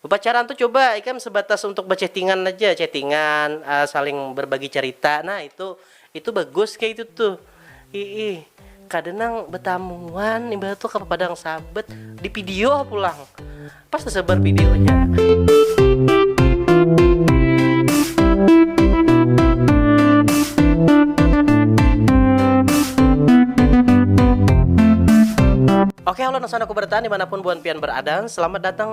Pacaran tu coba ikam sebatas untuk bechattingan aja, chattingan, saling berbagi cerita, nah itu itu bagus kaitu tu, iih kada nang betamuan imbah tu ke padang sabet di video pulang, pas tesebar videonya. Oke halo Nasanaku Bertahan dimanapun buhan pian berada, selamat datang.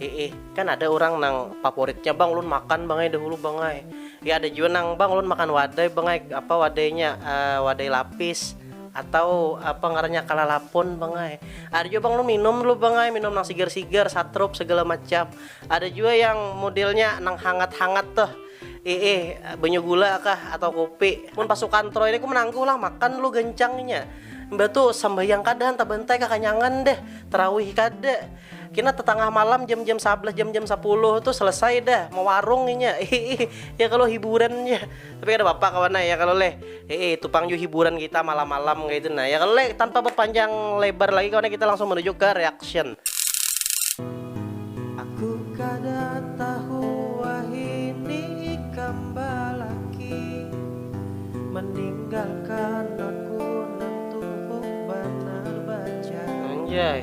Iih, kan ada urang nang favoritnya bang ulun makan bang ai dahulu bang ai. Ya ada jua nang bang ulun makan wadai bang ai, apa wadainya uh, wadai lapis atau apa ngarannya kalalapun bang ai. Ada juga bang ulun minum dulu bang ai, minum nang sigar-sigar, satrup segala macam. Ada juga yang modelnya nang hangat-hangat tuh ee banyu gula kah atau kopi mun pasukan troy ini ku menangguh lah makan lu gencangnya mbak tuh sembahyang kada hantar bantai kakanyangan deh terawih kada Kina tetangah malam jam-jam sabelas jam-jam sapuluh tuh selesai dah mewarung inya. ya kalau hiburan ya. Tapi kada apa-apa kawan ya kalau leh. Eh itu pang ju hiburan kita malam-malam kayak itu nah. Ya kalau leh tanpa berpanjang lebar lagi kawan kita langsung menuju ke reaction. Aku kada tahu wahini ikam balaki meninggalkan aku nang tuhuk banar bajai. Anjay.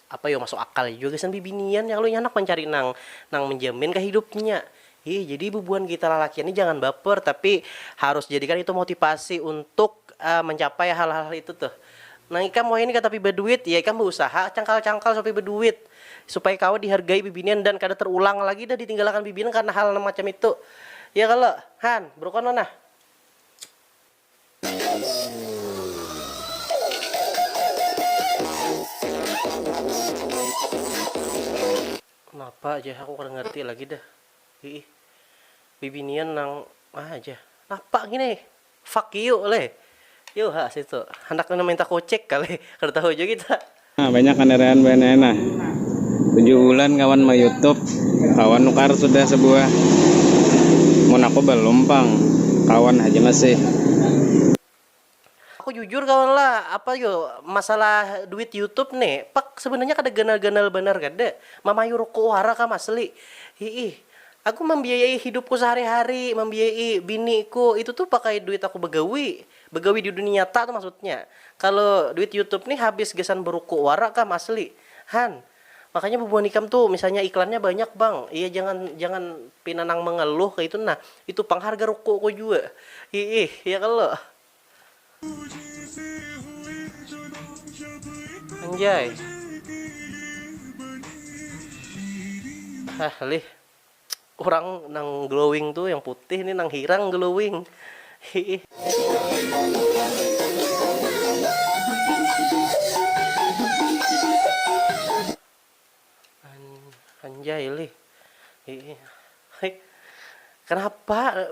Apa yo masuk akal jua gasan bibinian ya kalo inya handak mancari nang nang menjamin kah hidupnya. Hih jadi bubuhan kita lalakian ni jangan baper tapi harus jadikan itu motipasi untuk mencapai hal hal itu tuh. Nang ikam wahini ka tapi baduit ya ikam bausaha cangkal cangkal supaya baduit supaya kawa dihargai bibinian dan kada terulang lagi dah ditinggalakan bibinian karna hal nang macam itu ya kalo han brukon lo nah. Napa jar aku kada ngarti lagi dah iih bibinian nang ah jar napa ngini ai fuck you leh, yuuh ha situ handak nang minta kucek kali kada tahu jua kita. Nah banyak kandaraan bahannya nah. Tujuh bulan kawan ma YouTube, kawan nukar sudah sebuah. Mun aku balum pang, kawan haja masih. Aku jujur kawan lah, apa yo masalah duit YouTube ne, pak sebenarnya kada ganal-ganal banar kada, mamayu ruku wara kam asli, hiih. Aku mambiayai hidupku sehari-hari, mambiayai biniku, itu tu pakai duit aku bagawi. Begawi di dunia nyata tu maksudnya. Kalo duit youtube nih habis gasan beruku wara kam asli. Han. Makanya bubuhan ikam tu misalnya iklannya banyak bang, iya jangan jangan pina nang mengeluh kaya itu nah. Itu pang harga ruku ku jua. Hiih. Ya kalo. Anjay. Hah lih. Urang nang glowing tu yang putih ni nang hirang glowing hiih. Anjay lih hiih. Kenapa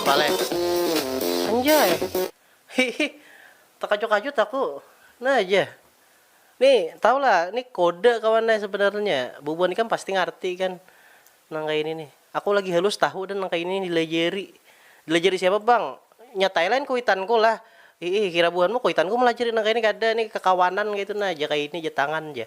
apa leh anjay hihi terkajut-kajut aku nah aja nih tau lah nih kode kawannya sebenarnya bubuan ikan pasti ngerti kan nang kayak ini nih aku lagi halus tahu dan nang kayak ini dilajari dilajari siapa bang nya Thailand kuitanku lah hihi kira buanmu kuitanku melajari nang kayak ini kada nih kekawanan gitu nah aja kayak ini aja tangan aja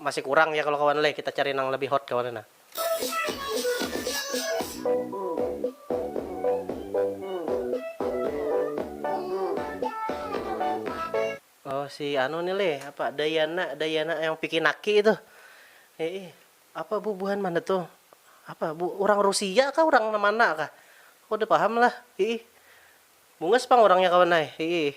Masih kurang ya kalo kawan leh kita cari nang lebih hot kawan nah. Oh si anu ni leh apa dayana dayana yang piki naki itu ee apa bu buhan mana tu apa bu urang rusia kah urang mana kah kada paham lah ee bungas pang urangnya kawan ai ee.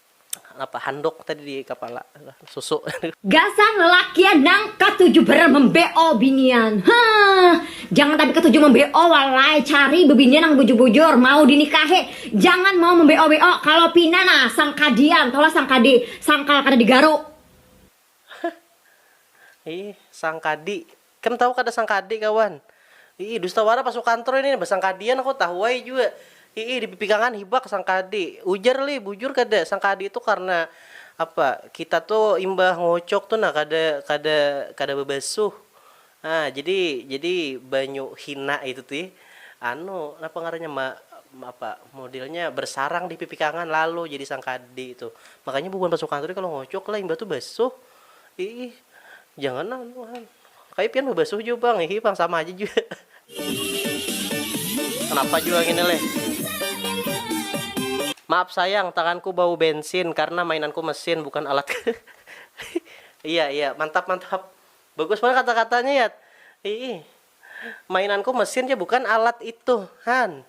Napa handuk tadi di kapala susu. Gasan lalakian nang katuju banar membe'o binian. Hah. Jangan tapi katuju membe'o wallai, cari bebinian nang bujur-bujur, mau dinikahi. Jangan mau membe'o-be'o, kalo pina nah sangkadian, taulah sangkadi, sangkal kada digaruk. Ih, sangkadi. Ikam tahu kada sangkadi, kawan? Iih, dusta wara pas ukantor ini, basangkadian aku, tahu ai jua. Iih, dipipikangan hibak sangkadi. Ujar lih, bujur kada, sangkadi tu karna, apa, kita tu imbah ngocok tu nah kada kada kada babasuh. Nah, jadi jadi banyu hina itu ti anu napa ngarannya ma apa modelnya bersarang di pipi kangan lalu jadi sangkadi itu. Makanya bubuhan pasukan tu kalau ngocok lah imbah tu basuh. Iih, jangan nah buhan. Kaya pian babasuh jua pang, iih pang sama haja jua. Kenapa jua ngini leh. Maaf sayang, tanganku bau bensin karena mainanku mesin bukan alat. Iya iya, mantap mantap. Bagus banar kata katanya yat. Iih. Mainanku mesin ja bukan alat itu. Han.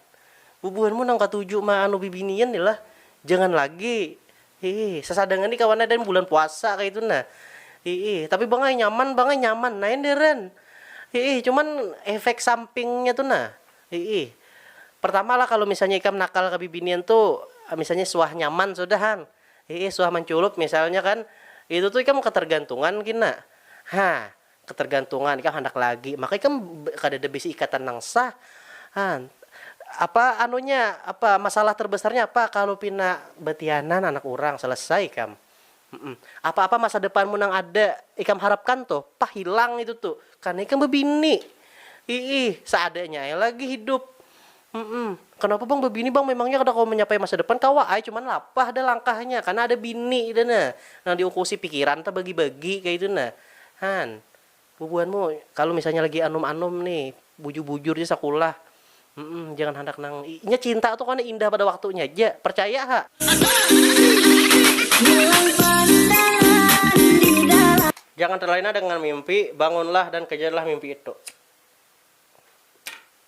Bubuhanmu nang katuju ma anu bibinian ni lah. Jangan lagi. Iih. Sasadangan ni kawan adan bulan puasa kaitu nah. Iih. Tapi bang ai nyaman bang ai nyaman ai deren. Iih. Cuman efek sampingnya tu nah. Iih. Pertama lah kalu misalnya ikam nakal kabibinian tu misalnya suah nyaman sudah han. Iih suah manculup misalnya kan, itu tu ikam ketergantungan gin nak. Hah, ketergantungan ikam handak lagi, maka ikam kadada bisi ikatan nang sah. Hah, apa anunya, apa masalah terbesarnya apa kalu pina batianan anak urang, selesai ikam. Humm, apa-apa masa depanmu nang ada ikam harapkan tu, pah hilang itu tu, karna ikam bebini. Iih, seadanya ai lagi hidup. Humm. Kenapa bang bebini bang memangnya kada kawa menyapai masa depan kawa ai cuman lapah dah langkahnya karena ada bini dah nah nang diungkusi pikiran tabagi bagi kaitu nah han bubuhanmu kalu misalnya lagi anum anum ni bujur bujur ja sakulah humm jangan handak nang inya cinta tu kena indah pada waktunya haja percaya ha. Jangan terlena dengan mimpi, bangunlah dan kejarlah mimpi itu.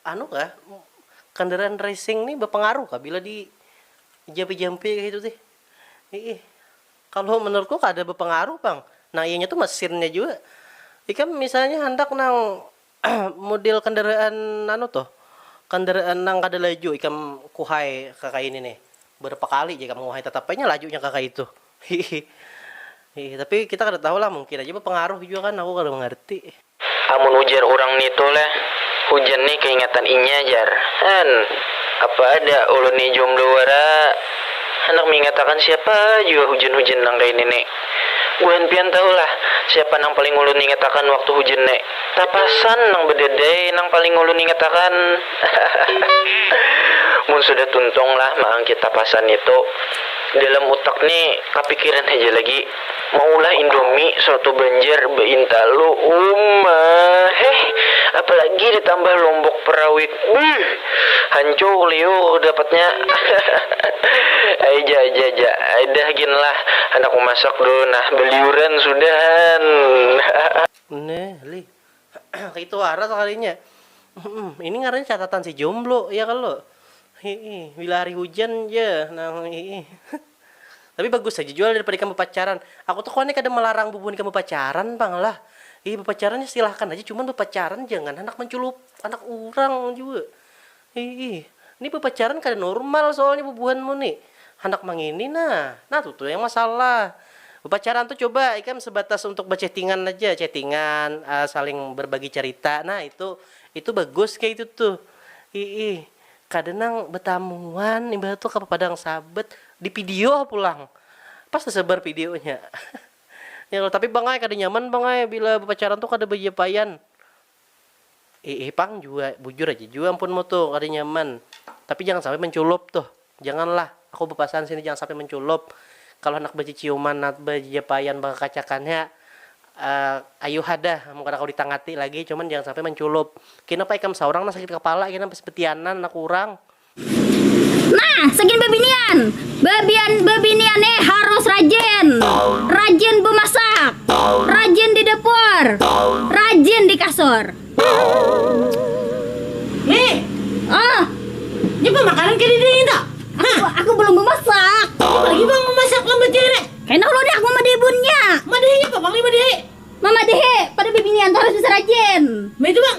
Anu kah, kendaraan racing nih bepengaruh kah bila di jampi jampi kaya itu tih, iih kalo menurut ku kada bepengaruh pang, nang ianya tu mesinnya jua, ikam misalnya handak nang mudil kendaraan anu tuh kendaraan nang kada laju ikam kuhai kakaini nih berapa kali ja ikam nguhai tetap ai nya lajunya kakaitu. Hihi. Hihi, tapi kita kada tahu lah mungkin aja bapangaruh jua kan aku kada mangarti. Amun ujar urang nitu leh, hujan ni kaingatan inya jar. An, apa ada ulun ni jomblo wara, handak mingatakan siapa jua hujan-hujan nang kaini ni. Buhan pian tahu lah siapa nang paling ulun ingatakan waktu hujan ni. Tapasan nang bedadai nang paling ulun ingatakan. Hahaha. Mun sudah tuntung lah maangkit tapasan nitu, Dalam utak ni kapikiran haja lagi maulah indomie soto banjar baintalu uma heh apalagi ditambah lombok perawit buih hancur liur dapatnya ai ja ja ja ai dah gin lah handak memasak dulu nah baliuran sudah han. Neh lih Kaitu wara sakalinya. Ini ngarannya catatan si jomblo, ya kalo? Hihi, bila hari hujan ja nang hihi. Tapi bagus haja jua lah daripada ikam bapacaran. Aku tuh kawannya kada malarang bubuhan ikam bapacaran pang lah. Hihi, bapacaran nih silahakan haja, cuman bapacaran jangan handak manculup anak urang jua. Ih ih, ni bapacaran kada nurmal soalnya bubuhanmu ni, handak mangini nah, nah tu tu yang masalah. Bapacaran tu coba ikam sebatas untuk bachattingan aja, chattingan, saling berbagi carita, nah itu itu bagus kaya itu tuh. Ih ih, kada nang batamuan imbah tu ka padang sabet, di video ha pulang, pas tasebar videonya. Tapi pang ai kada nyaman pang ai bila bapacaran tu kada bajapaian, Iih pang jua, bujur aja jua ampun mutu kada nyaman, tapi jangan sampai menculup tuh, jangan lah, aku bepasan sini jangan sampai menculup, kalu handak beciciuman nat bejejepaian bekakacakan ya, eh ayuha dah amun kada kawa ditangati lagi, cuman jangan sampai menculup, kina pa ikam saurang nang sakit kepala kina pas betianan anak urang. Nah, segin bebinian. Bebian bebinian nih harus rajin. Rajin bemasak. Rajin di dapur. Rajin di kasur. Nih. Oh. Ini pemakanan ke diri itu. Aku, aku belum memasak. Apalagi bang memasak lambat jere. Hendak lo dak memadahi bunnya. Madahinya apa bang nih madahi? Memadahi pada bebinian tuh harus bisa rajin. Nah itu bang.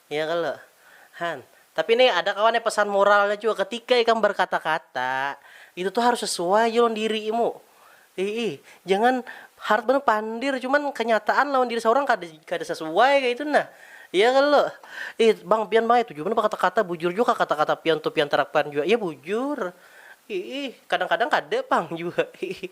Iya kalo? Han, tapi ne ada kawa ne pesan moralnya jua, ketika ikam berkata-kata, itu tuh harus sesuai ja lawan dirimu. Iih, jangan harat banar pandir, cuman kenyataan lawan diri saurang kada kada sesuai kaitu nah. Iya kalo? Iih, bang pian bang ai tuju banar berkata-kata, bujur jua kah kata-kata pian tuh pian terapkan jua? Iya bujur. Iih, kadang-kadang kada pang jua. Iih.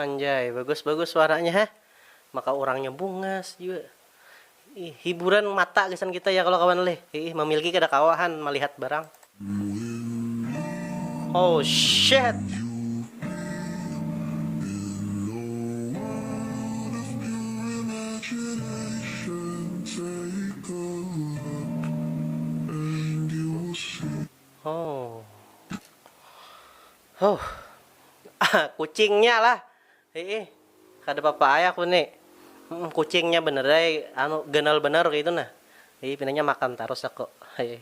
Anjay bagus bagus suaranya ha maka urangnya bungas jua ih hiburan mata gasan kita ya kalo kawan leh iih mamilki kada kawa han malihat barang. Oh shit. Oh. Huh. Kucingnya lah. Ih, kada apa-apa ay aku ni. Hmm, kucingnya bener ay, anu ganal bener kaya itu nah. Ih, pinanya makan tarus aku. Ih.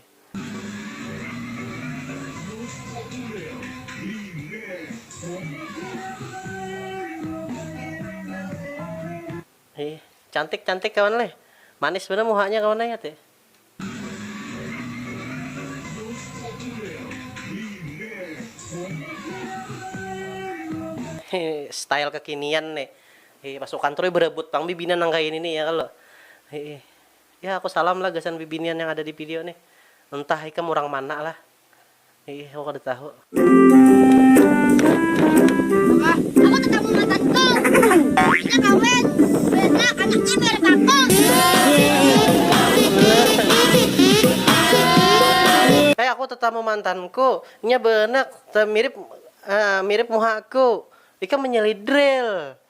Ih, cantik-cantik kawan leh. Manis banar muhanya kawan ay ati. style kekinian nih Hei, pasukan Troy berebut pang bibinan nang kaya ini nih ya kalau. Hei. Ya aku salam lah gasan bibinian yang ada di video nih. Entah ikam urang mana lah. Aku kada tahu. Aku tetamu matan ko. Inya kawin. Banyak anaknya mirip aku. Hai aku tetamu mantanku. Inya banak mirip mirip muha aku. Ikam menyelidril.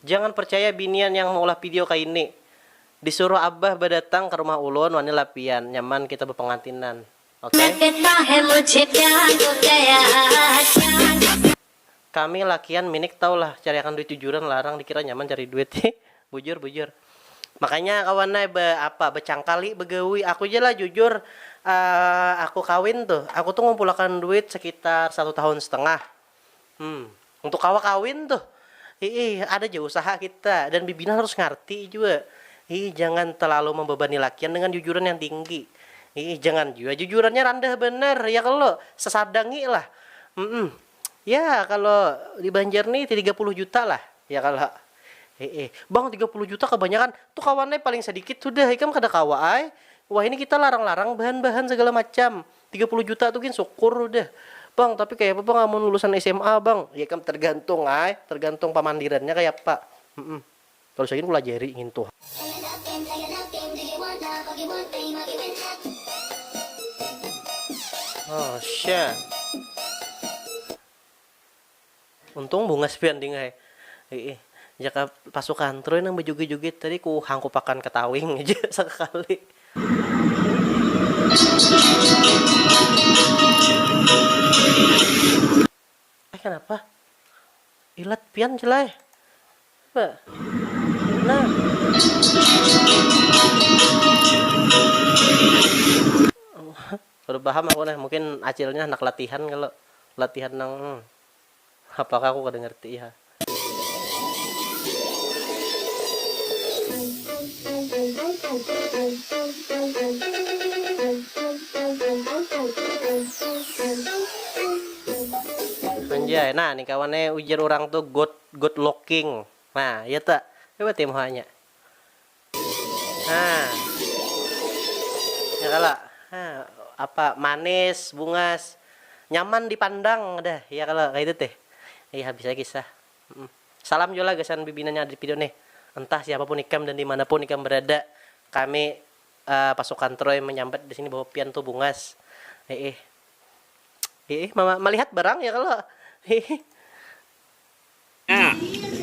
Jangan percaya binian yang maulah pidio kaini. Disuruh abah badatang ka rumah ulun wani lah pian, nyaman kita bapangantinan. Ok. Kami lakian minik tahu lah cari akan duit jujuran larang dikira nyaman cari duit. Hi bujur bujur. Makanya kawan ai ba apa bacangkali bagawi. Aku ja lah jujur aku kawin tuh aku tuh ngumpul akan duit sekitar satu tahun setengah. Hmm, untuk kawa kawin tuh, iih ada ja usaha kita dan bibina harus ngarti jua, iih jangan telalu membebani lakian dengan jujuran yang tinggi, iih jangan jua jujurannya randah banar ya kalo, sesadangi lah, mm ya kalo di banjar nih tiga puluh juta lah ya kalo, iih bang tiga puluh juta kabanyakan tuh kawan ai paling sadikit sudah ikam kada kawa ai, wahini kita larang-larang bahan-bahan segala macam. Tiga puluh juta tu gin sukur udah. Bang, tapi kayapa bang amun lulusan sma bang? Ya ikam tergantung ai, tergantung pamandirannya kayapa. Humm. Kalo saya gin kulajari ngintu ha. Untung bungas pian ding ai. Iih, jaka pasukan Troy nang bajugit-jugit tadi ku hangkupakan ka tawing haja sakakali. Eh kanapa? Ilat pian jar ai. Coba. Nah. Kada paham aku nah, mungkin acilnya handak latihan kalo. Latihan nang hmm. Apa kah aku kada ngerti iha. Anjay, nah ni kawan ne ujar urang tu good good looking. Nah, ya ta? Coba tim hanya. Nah. Ya kalo? Nah, apa manis, bungas, nyaman dipandang dah ya kalo kaitu tih. Ih habis ai kisah. Salam jua lah gasan pimpinan yang ada di video nih. Entah siapapun ikam dan dimanapun ikam berada, kami pasukan troy menyambat di sini bahwa pian tu bungas. Hiih. Hiih melihat barang ya kalo. Hiih.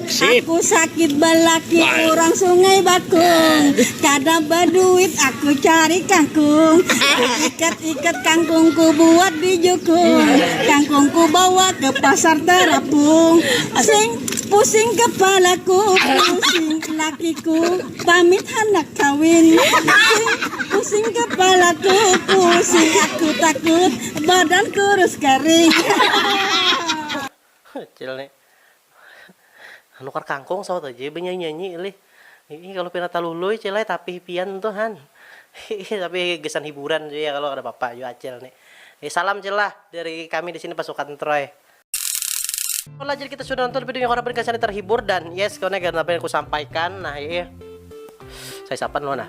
Aku sakit balaki urang sungai bakung Kada baduit aku cari kangkung Ikat-ikat kangkung ku buat di jukung Kangkung ku bawa ke pasar terapung Sing pusing kepala ku pusing Laki ku pamit handak kawin Sing pusing kepala ku pusing Aku takut badan kurus kering Acil ni nukar kangkung sawat haja banyanyi-nyanyi lih. Hiih kalu pina talului cil ai tapih pian tu han. Hiih tapi gasan hiburan ja ya kalo kada papa jua acil ni. Hi salam cil lah dari kami di sini pasukan troy. Lah jadi kita sudah nonton videonya kawan apabila kalian terhibur dan yes kawan ya apa yang kusampaikan nah hiih saya sapan lo nah.